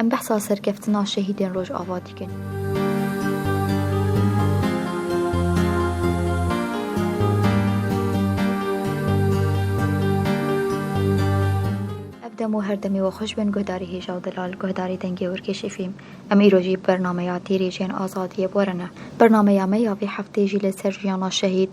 Em behsa serkeftina şehîdên Rojava dikin. Ev dem û her demê we xweş bin guhdarî hêja û delal, guhdarî dengê Hûrkêşê fîlm. Em îro jî bi bernameya Têrê jiyên azadiyê bi we re ne. Bernameya me ya vê hefteyê jî li ser jiyana şehîd,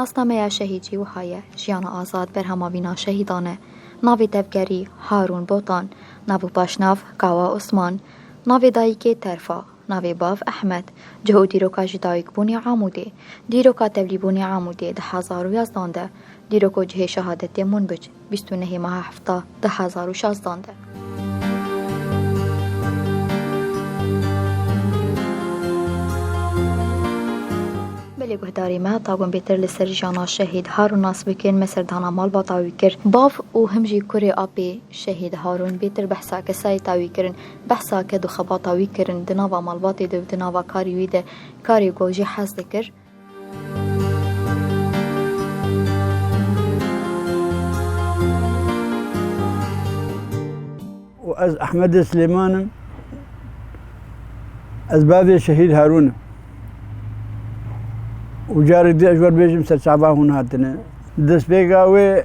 Nasnameya şehîdjî wiha ye, Jiyana Azad berhama vîna şehîdan e. Navê tevgerî, Harûn Botan. Nav û paşnav, Kawa Osman. Navê dayîkê, Terfa. Navê bav Ehmed, cih û dîroka ji dayikbûnê Amûdê, dîroka tevlîbûnê Amûdê di hezar û yazdan de, dîrok û cihê şehadetê Munbic, bîst û nehê meha hefta di hezar û şazdan de. Belê guhdarê me ta gom bêtir li ser jiyana şehîd Harûn nas bikin me serdana malbata wî kir. Bav û him jî kurê apê şehîd Harûn bêtir behsa kesayê ta wî kirin. Behsa ke di xebata wî kirin di nava malbatê de û di nava karê wî de karê ku jî hez dikir, û ez Ehmedê Silêman im ez bavê Şehîd Harûn im û carek din ji we re bêjim serçava hûn hatine destpêka wê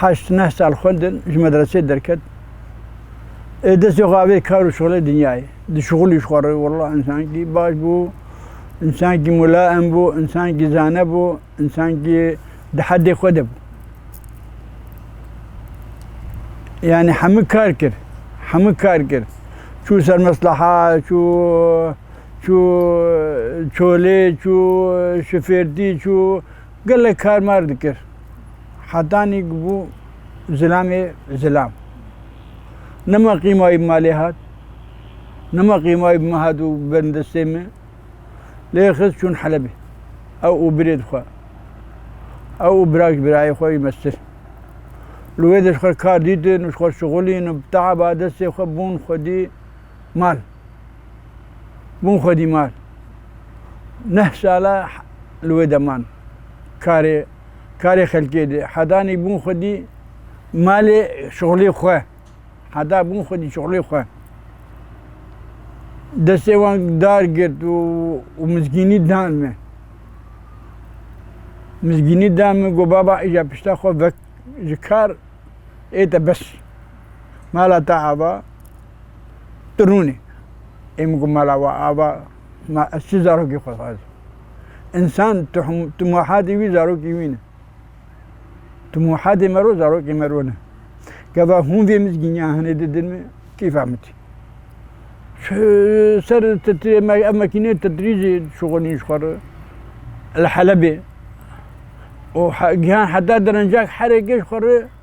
heşt neh sal xwendin ji medresê derket. Ê destê xwe avê kar û şixulê dinyayê. Di şixulî ji xwe re walla însankî baş bû, însankî mulaem bû, însankî zane bû, însankî di heddê xwe de bû. Yani hemû kar kir. Hemû kar kir. Çû ser mesleha, çû çû çolê, çû şifêrtî, çû Gelek kar mar dikir. Hetanî ku bû zilamê zilam. Nima qîmayî bi malê hat. Nima qîmayî bi min hat û bin destê min. Lê xist çûn Helebê. Ew û birê dixwe. Ew û bira ji birayê xwe jî mestir. Li wê de ji xwe kar dîtin û ji xwe şixulîn û bi teeba destê xwe bûn xwedî. Mal. Bûn xwedî mal. Neh sala li wê de man. Karê karê xelkê dê. Hedanî bûn xwedî malê şixulê xwe. Heda bûn xwedî şixulê xwe. Destê wan dar girt û mizgînî dan min. Mizgînî dan min got baba îja pişta xwe vek ji kar ê te bes. Mala te ava. Tu rûn î. Ê min got mala we ava ma ez çi zarokî xwe dixwazim. Însan tu muhadê wî zarokî wî ne. Tu muhadê me ro zarokê me ro ne. Gava hûn vê mizgîniya hinê didin min keyfa min tî. Ser ev mekîneyê titrîjê şixulîn ji xwe re li Helebê û gihan heta derencek herêkê ji xwe re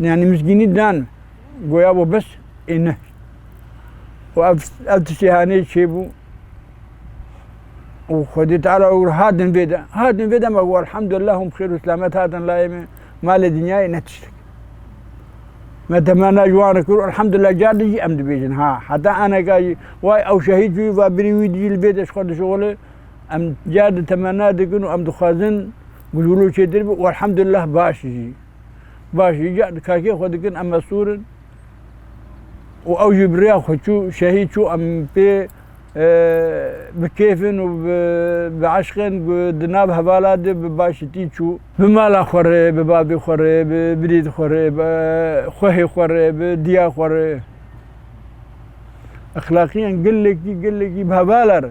Yani misgînî dan goya bo bes ê ne. û ev ev tiştê hanê çêbû û Xwedê Teala û hatin vê de hatin vê de me û elhamdulillah hûn xêr û selamet hatin layê me malê dinyayê ne tiştek. Me temena ji wan re kir û elhamdulillah car din jî em dibêjin ha heta eneka jî way ew şehîd bû va birî wî jî li vê de ji xwe dişuxile em car di temena dikin û em dixwazin Gulgulu çêtir bû û elhemdulillah baş jî. Baş jî îcar di kakê xwe dikin em mestûr in û ew jî bi rêya xwe çû şehîd çû em pê bi kêf in û bi eşq in di nav hevala de bi başitî çû. Bi mala xwe re, bi bavê xwe re, bi birêd xwe re, bi xwehê xwe re, bi diya xwe re. Exlaqîyan gelekî gelekî bi hevala re.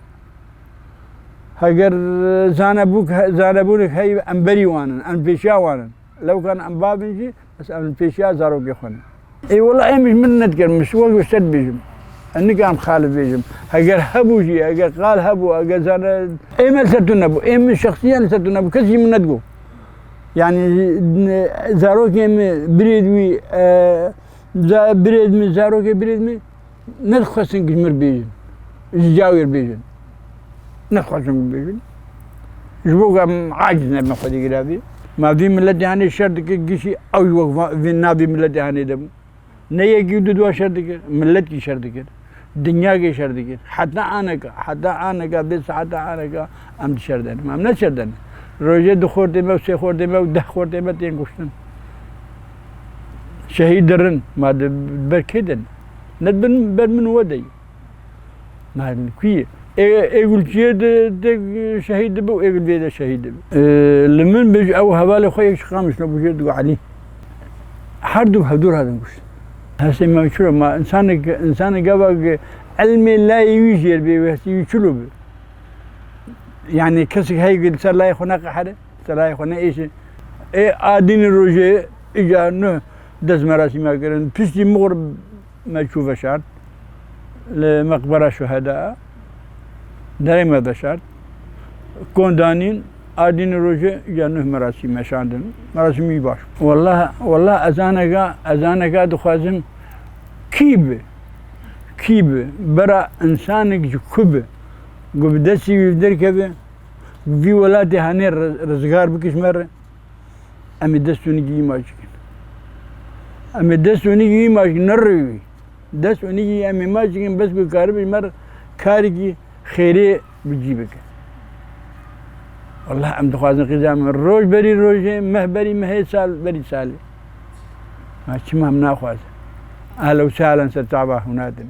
Heger zanebûk zanebûnek heye em berî wan in, em li pêşiya wan in. Lewkan em bav in jî bes em li pêşiya zarokê xwe ne. Ê wela em ji min nedikin, min wek ji te dibêjim. Ez nikarim qal bibêjim. Heger hebû jî, heger qal hebû, heger zane ê me li ser tu nebû, ê min şexsiyan li ser tu nebû, kes jî min nedigot. Yanî zarokê min birêd wî birêd min zarokê birêd min Nedixwestin ji mir bêjin, ji cawêr bêjin. Nedixwestin wî bêjin. Ji bo ku em aciz nebin Xwedî gire vê. Ma vî miletê henê şer dike gişî ew ji wek vê na vî miletê henê de bû. Ne yekî û du dua şer dikir. Milet jî şer dikir. Dinya jî şer dikir. Heta aneka, heta aneka vê saheta aneka em di şer de ne. Em ne şer de ne. Rojê du xortê me û sê xortê me û deh xortê me tên kuştin. Şehîd dirin, ma di ber kê de ne? Ne di ber min û we de ye. Ma kû ye? Êgul çiyê de de şehîd dibe û êgul vê de şehîd dibe. Li min bêj ew hevalê xwe yek ji Qamişlo bûje digo Elî. Her du hevdûr hatin kuştin. Hestê me çi be? Ma insanek insanê gava ki ilmê layê wî jêr bê wê hestê wî çilo be? Yanî kesek heye ki li ser layê xwe neqehere? Serayê xwe neêşe. Ê adînê rojê îca nuh dest merasîma kirin. Piştî mixwur me çû veşart li meqbera şuheda. Derê me veşart. Kon danîn adînê rojê îca nuh merasîm meşandin. Merasîm wî baş bû. Wela wela ezaneke ezaneke dixwazim kî bi kî bi bera insanek ji ku bi ku bi destê wî derkeve Vî welatê henê rizgar bikiş me re em ê dest û nigî îmaj bikin. Em ê dest û nigî îmaj bikin ne rewî wî. Dest û nigî em îmaj bikin bes ku karîbî ji me re karekî xêrê bi cî bike. Wallah em dixwazin qîza min roj berî rojê, meh berî mehê, sal berî salê. Ma çima em naxwazin. Ehlen û sehlen ser çava hûna din.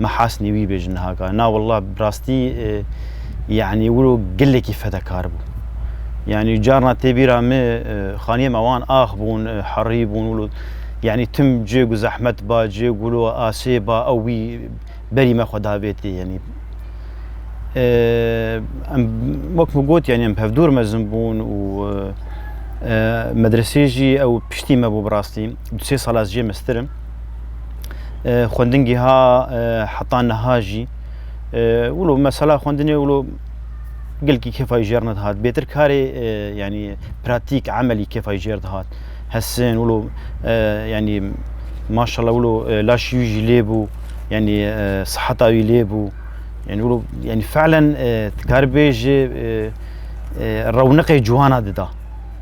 me hasnî wî bêjin niha ka na willa bi rastî yanî wilo gelekî fedekar bû. Yanî carna tê bîra min xaniyê me wan ax bûn, herî bûn wilo yanî tim cê ku zehmet ba, cê ku wilo asê ba ew wî berî me xwe da vê tê yanî. Em wek min got yanî em hevdûr mezin bûn û medresê jî ew piştî me bû bi rastî du sê sal ez jê meztir im. xwendin giha heta niha jî wilo mesela xwendinê wilo gelkî kefa jî jêr nedihat bêtir karê yanî pratîk emelî kefa jî jêr dihat hesin wilo yanî maşallah wilo laşî wî jî lêbû yanî siheta wî lêbû yanî wilo yanî felen dikaribêje rewniqê ciwana dida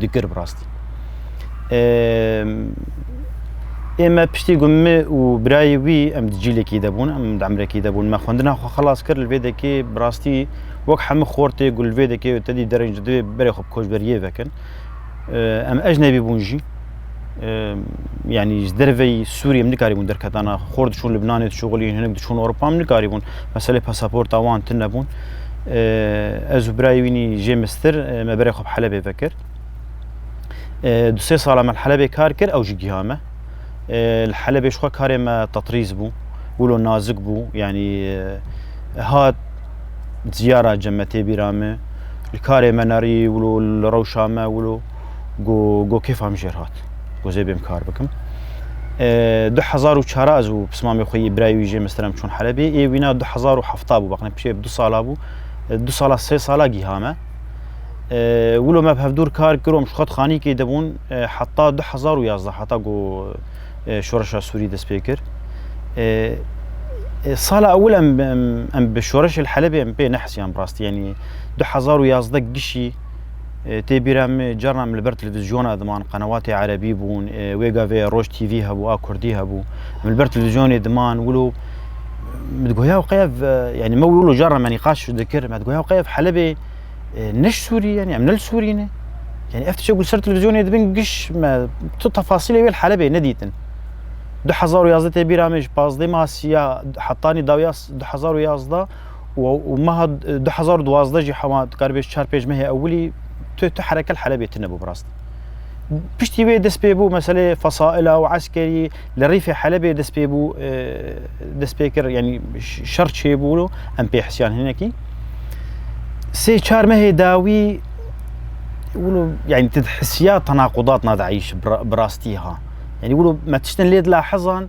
dikir bi rastî. Ê me piştî ku min û birayê wî em di cîlekî de bûn, em di emrekî de bûn, me xwendina xwe xelas kir li vê dekê bi rastî wek hemû xortê ku li vê dekê te dî dereng ji divê berê xwe bi koçberiyê vekin. Em ecnebî bûn jî. یعنی ji derveyî Sûriyê min nikarîbûn derketana xwe xor diçûn Libnanê diçûxilîn hinek diçûn Ewropa min nikarîbûn meselê pasaporta wan tune bûn ez û birayê wînî jê mistir me berê xwe bi Helebê vekir du sê sala me li Helebê kar kir ew jî giha me li Helebê ji xwe karê me tetrîz bû wilo nazik bû yanî hat diyara cem me tê bîra me li karê me nerî wilo li rewşa me wilo got got kêfa min jê re hat got zê bêm kar bikim. Du hezar û çar ez û pismamê xwe yê birayê wî jê min stirem çûn Helebê. Ê wîna du hezar û hefta bû baqne pişê du sala bû. Du sala sê sala gîha me. Wilo me bi hevdûr kar kirom ji xwe xanîkê de bûn heta du hezar û yazdeh heta got şoreşa Sûrî dest pê kir. Sala ewil em em bi şoreşê li Helebê em pê nehisiyan bi rastî yanî du hezar û yazdeh gişî Tê bîra me carna em li ber televîzyona diman, qenewatê erebî bûn, wê gavê Roj TV hebû a Kurdî hebû. Em li ber televîzyonê diman wilo min digoya ew qeyev yanî me wilo carna me nîqaş dikir me digoya ew qeyev Helebê ne ji Sûrî yanî em ne li Sûrî ne. Yani ev tişek li ser televîzyonê dibin giş me tu tefasîlê wê li Helebê nedîtin. 2011 tê bîra me ji pazdeh Masiya hetanî dawiya 2011 û meha du hezar û duwazdeh jî hema dikaribê ji çar pênc mehê ewilî tu tu hereke li Helebê tune bû bi rast. Piştî wê dest pê bû meselê fesaila û eskerî li rîfê Helebê dest pê bû dest pê kir yanî şer çêbû em pê hisiyan hinekî. Sê çar mehê dawî wilo yanî tu hisiya tenaqudat na DAIŞ bi rastî ha. Yanî wilo me tiştin lê dila hezan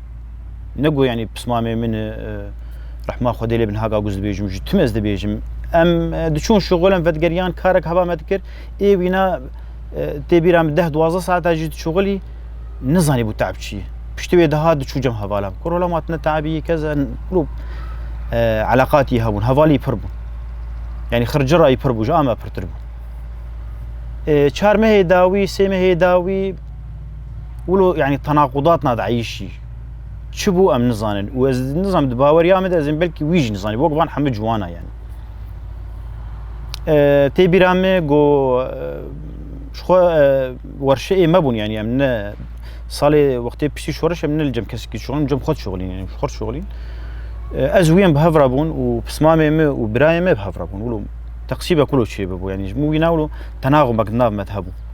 Nego yani pismamê min e, rehma Xwedê lê bin haka guz dibêjim ji tim ez dibêjim. Em e, diçûn şixulem vedgeriyan karek heva me dikir ê wîna e, tê bîra min deh duwazdeh saeta jî diçûxilî nizanî bû teab çi ye. Piştî wê dihat diçû cem hevalan. Kur hola matine teabî yê kez e, lû e, eleqatî hebûn, hevalî pir bû. Yani xircira î pir bû, ji ame pirtir bû. E, çar mehê dawî, sê mehê dawî Wilo yani tenaqudat na dayîşî çi bû em nizanin û ez nizam di baweriya min de ez ê belkî wî jî nizanî wek van hemû ciwana yani. Tê bîra me go ji xwe werşeyê me bûn yani em ne salê wextê piştî şoriş em ne li cem kesekî şixulîn cem xwe şixulîn yani xwe şixulîn. Ez wî em bi hevra bûn û pismamê me û birayê me bi hevra bûn. Wilo teqsîbe kulo çê bibû yani ji min wî na wilo tenaxumek nav me hebû.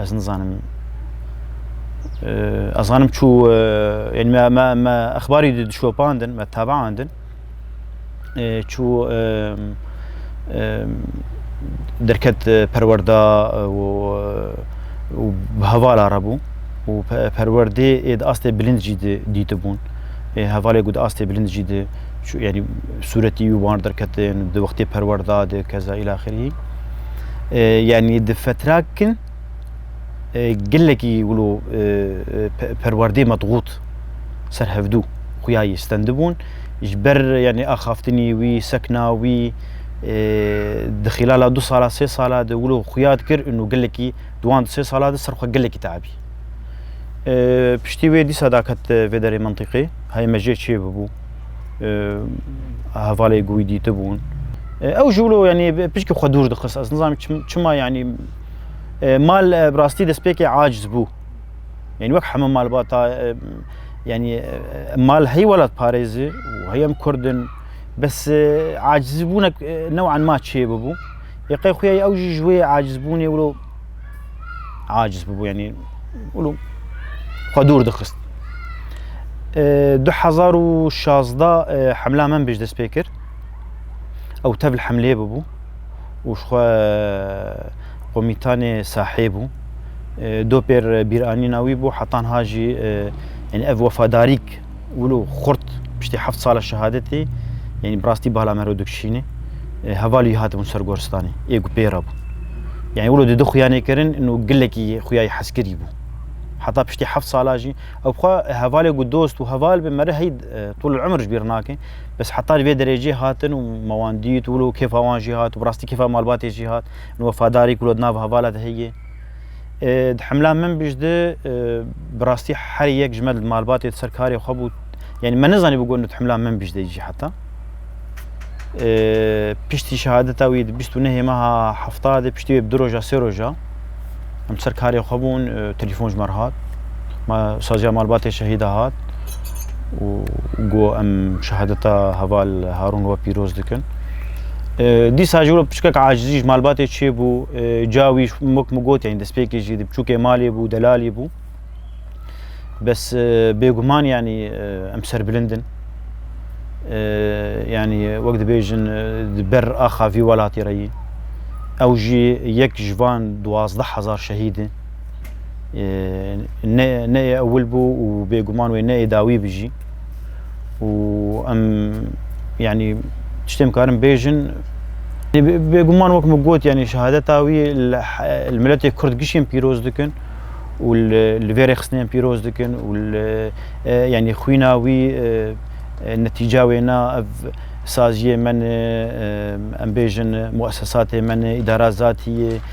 Ez nizanim. Ez zanim çû yani me me me exbarî dişopandin, me tebaandin. Çû derket perwerda û û bi hevala re bû û perwerdê ê di astê bilind jî dîtibûn. Ê hevalê ku di astê bilind jî di yani sûretî û wan derketin di wextê perwerda di keza îlaxirî. Yanî di fetrak kin gelekî wilo perwerdê medxût serhevdû xuya yî stendibûn ji ber yanî axaftinî wî, sekna wî di xîlala du sala sê sala de wilo xuya dikir û gelekî di wan du sê sala de ser xwe gelekî teibî. Piştî wê dîsa daket vê derê mentiqê heye me jê çê bibû. hevalê gûî dîtibûn. Ew ji wilo yanî pişkî xwe dûr dixist ez nizanim çima yanî mal bi rastî destpêkê aciz bû. Yani wek heme malbata yani mal hey welat parêzi û heyem kurdin bes acizî bûne newan ma çê bibû. Yê qey xuya ew jî ji wê acizbûnê wilo aciz bûbû yanî wilo xwe dûr dixist. Du hezar û şazda hemla min bêj dest pê kir. Ew tevl hemlê bûbû û ji xwe komîtanê sahê bû. Dopêr bîranîna wî bû hetanha jî yanî ev wefadarîk wilo xurt piştî heft sala şehadetê yanî bi rastî bala me re dikişîne hevalî wî hatibûn ser goristanê ê ku pê re bûn yanî wilo di di xuyanê kirin û gilekî xuyayî heskirî bû heta piştî heft sala jî ew xwe hevalê ku dost û heval bi me re hey tol emir ji bîr nake bes heta ji vê derêjê hatin û me wan dît wilo kêfa wan jî hat û bi rastî kêfa malbatê jî hat û wefadarî ku li nav hevala de heye Di hemla min biş di bi rastî herî yek ji me di malbatê di ser karê xwe bû. Yanî me nezanî bû got di hemla min biş de jî heta. Piştî şehadeta wî di bîst û nehê meha hefta de piştî wê bi du roja sê roja em ser karê xwe bûn telefon ji me re hat. Ma saziya malbatê şehîda hat. û got em şehadeta heval Harûn we pîroz dikin. Dîsa jî piçkek acizî ji malbatê çêbû, ca wî mok min got yanî destpêkê jî di biçûkê malê bû, delalî bû. Bes bêguman yanî em serbilind in. Yani wek dibêjin di ber axa vî welatê re yî. Ew jî yek ji van duwazdeh hezar şehîd in. ne neyê ewil bû û bêguman wê neyê dawî bi jî û em yanî tiştê em karin bêjin bêguman wek min got yanî şehadeta wî li miletê Kurd gişên pîroz dikin û li vê rêxistinên pîroz dikin û yanî xwîna wî netîca wêna ev saziyê me ne em bêjin muesesatê me ne îdara zatiyê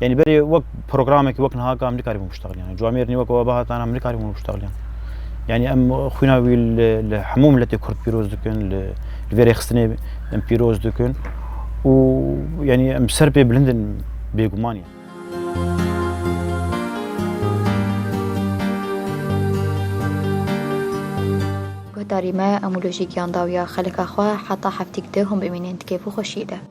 Yani berê wek programekî wek niha ka em nikarîbûn biştexilîyan. Ciwa mêrnî wek we bihat em nikarîbûn biştexilîyan. Yani em xwîna wî li hemû miletê Kurd pîroz dikin, li vê rêxistinê em pîroz dikin û yani em ser pê bilind in bêguman in. Guhdarî me, em û lojîk yan dawiya xelika xwe heta heftîk di hûn bimînin di kêf û xweşiyê de.